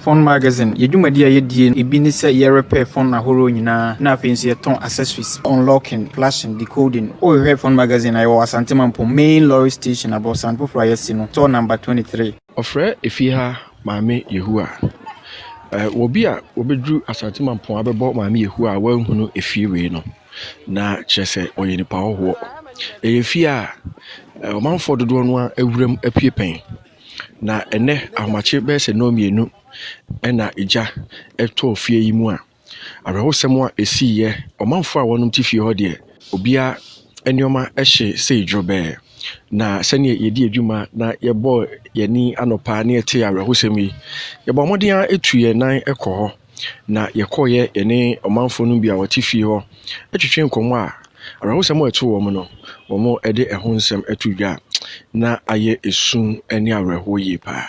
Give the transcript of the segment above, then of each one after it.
Fon Magazine, Yɛn dwumadi a yɛdie no bi ne sɛ yɛrepɛɛ fon ahoroɔ nyinaa na afei nso yɛtɔn accessories, unlocking, flashing, decoding. Wohwehwɛ Fon Magazine a, yɛwɔ Asante Mampong Main Lorry Station, abrɔsan foforɔ a yɛasi no, store number 23. Wɔfrɛ efie ha Maame Yehowa. Ɛɛ wɔ bi a wɔbɛduru Asante Mampong abɛbɔ Maame Yehowa a wɔanhunu efie wei no, na kyerɛ sɛ ɔyɛ nipa hɔhoɔ. Ɛyɛ efie a ɔmanfoɔ dodoɔ no ara wuram apue pɛn. Na ɛnnɛ ahomakye bɛyɛ sɛ nnɔn mmienu na gya tɔɔ fie yi mu a, awerɛhosɛm a ɛsiiɛ, ɔmanfoɔ a wɔnom te fie hɔ deɛ, obiara nneɛma hye sei dworobɛɛ. Na sɛdeɛ yɛdii adwuma na yɛbɔɔ yɛn ani anɔpa na yɛtee awerɛhosɛm yi, yɛbɔɔ mmɔden ara tu yɛn nan kɔɔ hɔ. na yɛkɔeɛ yɛne ɔmanfoɔ no bi a wɔte fie hɔ twetwee nkɔmmɔ a awerɛhosɛm a ɛtoo wɔn no, wɔde ɛho nsɛm too dwa a, na ayɛ esu ne awerɛhoɔ yie paa.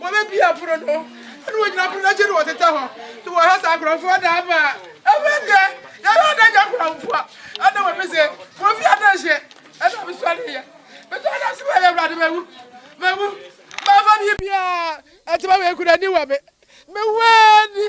Wɔbɛbue apono no, ɛna wɔgyina apono no akyi na wɔtetɛ hɔ, na wɔha saa nkurɔfoɔ da ama a. Ɛfiri deɛ, yɛyɛ ada agya nkurɔfoɔ, ɛna wɔbi se, Mofi ada nhye, ɛna mesɔreeɛ. Mesɔre na mese, Wei, Awurade, mawu, mawu, mamfa biribiara, ɛtema wei kura ni wɔ me, mewu ara ni.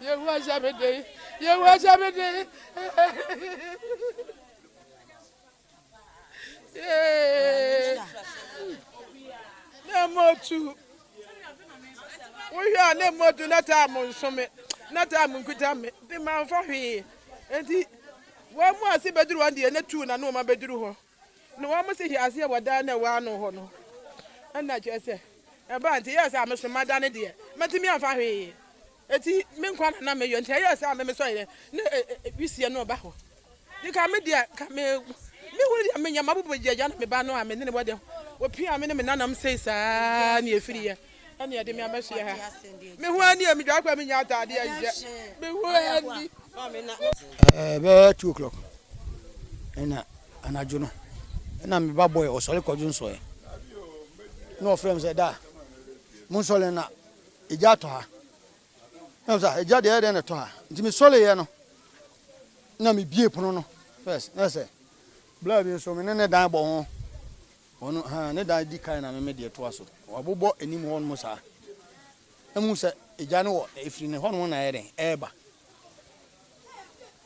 Yehowa hyɛ me den. Yehowa hyɛ me den. Na motu. Wohwɛ a na motu na taa mo nso me. Na taa mo nkuta me. De ma mfa hwee. Enti wɔn mu ase bɛduru wɔn deɛ na tu na nneɛma bɛduru hɔ. Na wɔsi hyɛɛ aseɛ wɔ dan no a ɛwɔ ano hɔ no, ɛna kyerɛ sɛ, ɛbaa nti ɛyɛɛ sɛ ameso mada no deɛ, mantumi amfa hwee, enti me nkwa na na meyɔ, nti ɛyɛɛ sɛ ame mesɔeɛ na wisie no reba hɔ, nti ka me deɛ, ka me, mehunu deɛ menyɛ, mabubu gya gya na me ba no a mene no wɔ dɛm, wɔpiaa me ne me nananom sei saa na yɛfiriiɛ. Ɛne ɛde me ama fie ha. Me ho ani a me dwa kwa me nya ataade ahyɛ. Me ho ani. Ɛbɛyɛ two o'clock. Ɛna anadwo no. Ɛna me ba boy ɔsɔre kɔdwo nsɔɛ. Na ɔfrɛ me sɛ da. Mo nsɔre na egya atɔ ha. Na ɔsɛ egya deɛ ɛdɛn na ɛtɔ ha. Nti me sɔre yɛ no. Na me bie pono no. First na sɛ. Bla bi nso me ne ne dan bɔ ho. Wɔn no, haa, ne dan di kan na me me deɛ toa so. Wɔabobɔ anim hɔ nom saa. Na mehu sɛ egya no wɔ, ɛfiri ne hɔ nom na ɛyɛ dɛn, ɛreba.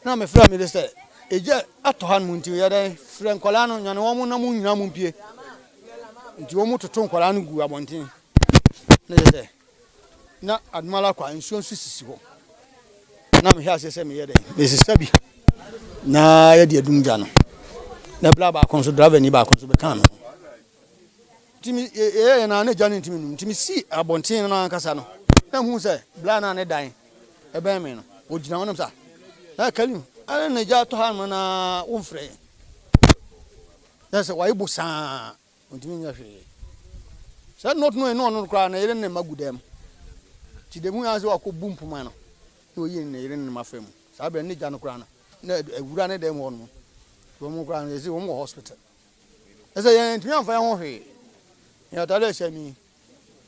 Na mefrɛ me de sɛ, egya atɔ ha nom nti yɛ dɛn, frɛ nkwadaa no, nyane wɔn na mo nyinaa mo mpue. Nti wɔn toto nkwadaa no gu abɔnten. Na kyerɛ sɛ. na adom ara kwa nsuo nso sisi hɔ na mehwɛ aseɛ sɛ meyɛ dɛn mesesa bi na yɛde adum gya no na bla baako nso driver ni baako nso bɛka me nti me yɛyɛ na na gya no ntumi num nti mesi abɔnten no ankasa no na hu sɛ bla na ne dan ɛbɛn me no ɔgyina hɔ nam sa na kalim ɛna na gya tɔ ha no na womfrɛ yɛn na sɛ wayi bo saa Ontumi nyɛ hwee. Sɛ nna ɔtena ne ɔno no koraa ne yere ne ne mma gu dɛm. Nti da bi hui ara sɛ wakɔbu mpoma no na ɔyi ne yere ne ne mma fa mu. Saa berɛ no na gya no koraa no na awura ne dɛm hɔ nom. Wɔn koraa no yɛsi wɔn wɔ hospital. Ɛsɛ yɛn ntumi amfa yɛn ho hwee. Yɛn atade a ɛhyɛ ni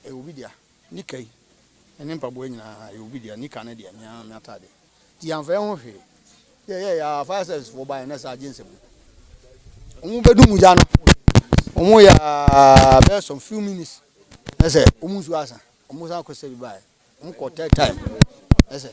ɛyɛ obi dea. Nika yi ne ne mpaboa nyinaa yɛ obi dea, nika no deɛ me ara m'atadeɛ. Nti yɛamfa yɛn ho hwee. Yɛ yɛ yɛ a fire service foɔ baeɛ na saa agye nsɛm no. Wɔn bɛdu mu gya no, wɔn yɛ a bɛyɛ some few minutes na sɛ wɔn nsuo asa, wɔn san kɔ sɛ bi baeɛ, wɔn kɔ third time na sɛ.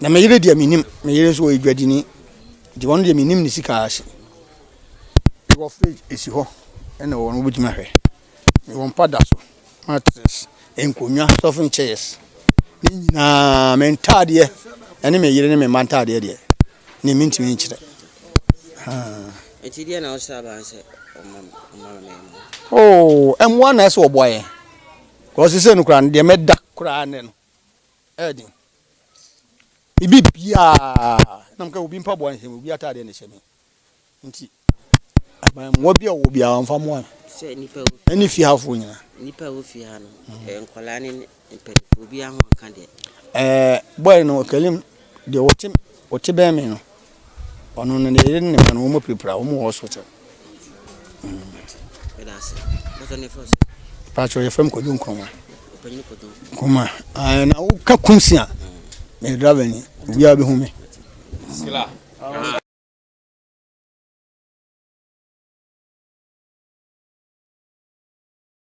Na me yere deɛ menim, me yere nso ɔyɛ dwadini, nti ɔno deɛ menim ne sika ase. Mewɔ fridge ɛsi hɔ, ɛna wɔn wobɛtumi ahwɛ. Mewɔ mpa da so, mattress, nkonnwa, stuffing chairs, ne nyinaa. Me ntaadeɛ, ɛne me yere ne me mma ntaadeɛ deɛ, ne mentumi nkyerɛ. Ɛti deɛ na ɔsɛ aban sɛ ɔmamɛmu. Oh, ɛmoa na ɛsɛ ɔboa yɛn. Kɔsi sɛ no koraa, deɛ mɛda koraa nɛ no. ɛɛden ebi biaa nam ka obi mpaboa nhyɛ me obi ataadeɛ na ɛhyɛ me nti aban mmoa bi a ɔwɔ biaa ɔmfa mmoa no sɛ nipa wo ɛne fie hafoɔ nyina nipa wo fie ha no nkɔlaa ne mpanimfoɔ obi aho nka deɛ ɛɛ bɔɛ no kalim deɛ ɔte ɔte bɛn me no Ɔno no ne yere ne ne mma no wɔn apirapira wɔn wɔ hospital. Paatwa yɛ fam kɔdwo nkroma. Nkroma ɛɛ na woka kum si a na yɛ driver ni obiara bɛ hu mi.